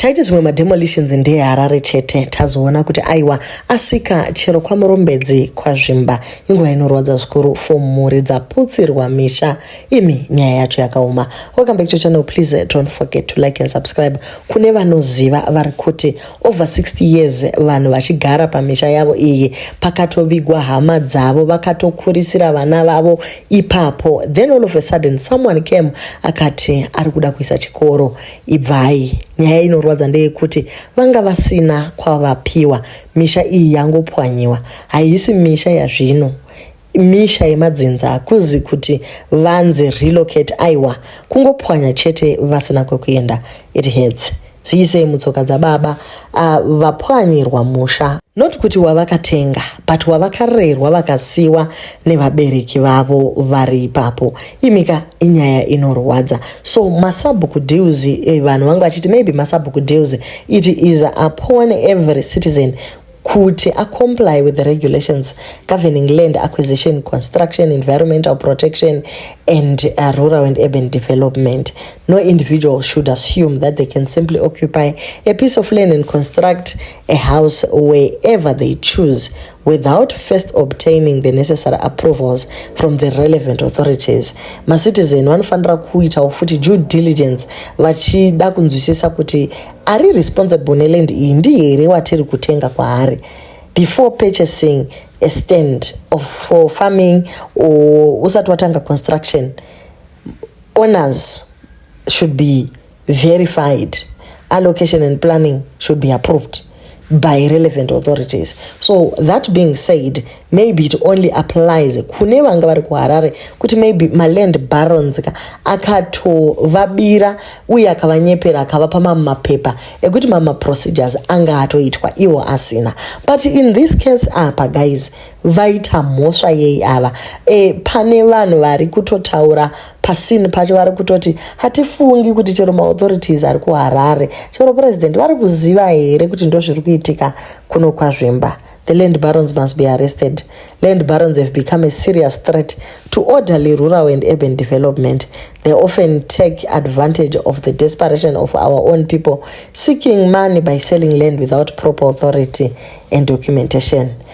taiti zvimwe mademolitions ndeeharare chete tazoona kuti aiwa asvika chero kwamurombedzi kwazvimba inguva inorwadza zvikuru for mhuri dzaputsirwa misha imi nyaya yacho yakaoma welcome back to channel please don't forget to like and subscribe kune vanoziva vari kuti over 60 years vanhu vachigara pamisha yavo iyi pakatovigwa hama dzavo vakatokurisira vana vavo ipapo then all of a sudden someone came akati ari kuda kuisa chikoro ibvai nyaya inorwadza ndeyekuti vanga vasina kwavapiwa misha iyi yangopwanyiwa haisi misha yazvino misha yemadzinza hakuzi kuti vanzi relocate aiwa kungopwanya chete vasina kwekuenda it hurts zviisei mutsoka dzababa Ah, vapwanyirwa musha not kuti wavakatenga but wavakarerwa vakasiwa nevabereki vavo vari ipapo imika inyaya inorwadza so masabhuku deals eh, vanhu vangu vachiti maybe masabhuku deals it is upon every citizen kuti acomply with the regulations governing land acquisition construction environmental protection and uh, rural and urban development No individual should assume that they can simply occupy a piece of land and construct a house wherever they choose without first obtaining the necessary approvals from the relevant authorities macitizen vanofanira kuitawo futi due diligence vachida kunzwisisa kuti ari responsible neland iyi ndi here watiri kutenga kwaari before purchasing a stand of for farming or usati watanga construction owners should be verified allocation and planning should be approved by relevant authorities so that being said maybe it only applies kune vanga vari kuharare kuti maybe maland barons ka akatovabira uye akavanyepera akavapa mamwe mapepa ekuti mamwe maprocedures anga atoitwa iwo asina but in this case apa guys vaita mhosva yei ava e, pane vanhu vari kutotaura pasini pacho vari kutoti hatifungi kuti chero maauthorities ari kuharare chero president vari kuziva here kuti ndo zviri kuitika kuno kwazvimba the land barons must be arrested land barons have become a serious threat to orderly rural and urban development they often take advantage of the desperation of our own people seeking money by selling land without proper authority and documentation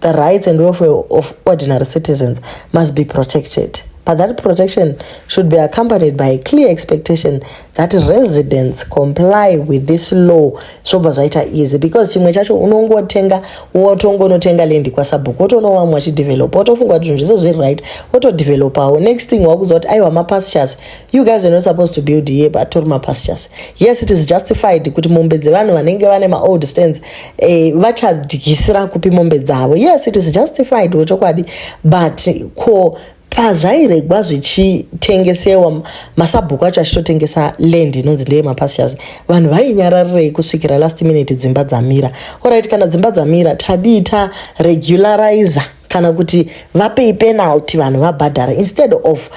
the rights and welfare of ordinary citizens must be protected. But that protection should be accompanied by a clear expectation that residents comply with this law zvobva zvaita easy because chimwe chacho unongotenga wotongonotenga lendi kwasabhuku wotoona vamwe wachidevelopa wotofunga kuti zvinhu zvese zviri right wotodevelopawo next thing wakuziva kuti aiwa mapastures you guys are not supposed to build here but tori mapastures yes it is justified kuti mombe dzevanhu vanenge vane maold stands eh, vachadyisira kupi mombe dzavo yes it is justified wechokwadi but ko pazvairegwa zvichitengesewa masabhuku acho achitotengesa land inonzi ndeye mapastures vanhu vainyararirei kusvikira last minute dzimba dzamira orit kana dzimba dzamira tadii ta regularizer kana kuti vapei penalty vanhu vabhadhara instead of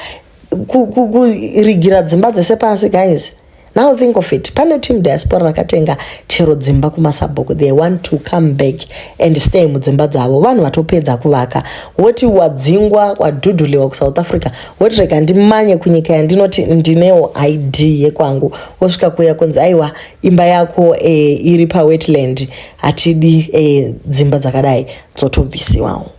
kurigira dzimba dzese pasi guys now think of it pane team diaspora rakatenga chero dzimba kumasabhuku they want to come back and stay mudzimba dzavo vanhu vatopedza kuvaka woti wadzingwa wadhudhuliwa kusouth africa woti rega ndimanye kunyika yandinoti ndinewo id yekwangu wosvika kuya kunzi aiwa imba yako e, iri pawetland hatidi e, dzimba dzakadai dzotobvisiwawo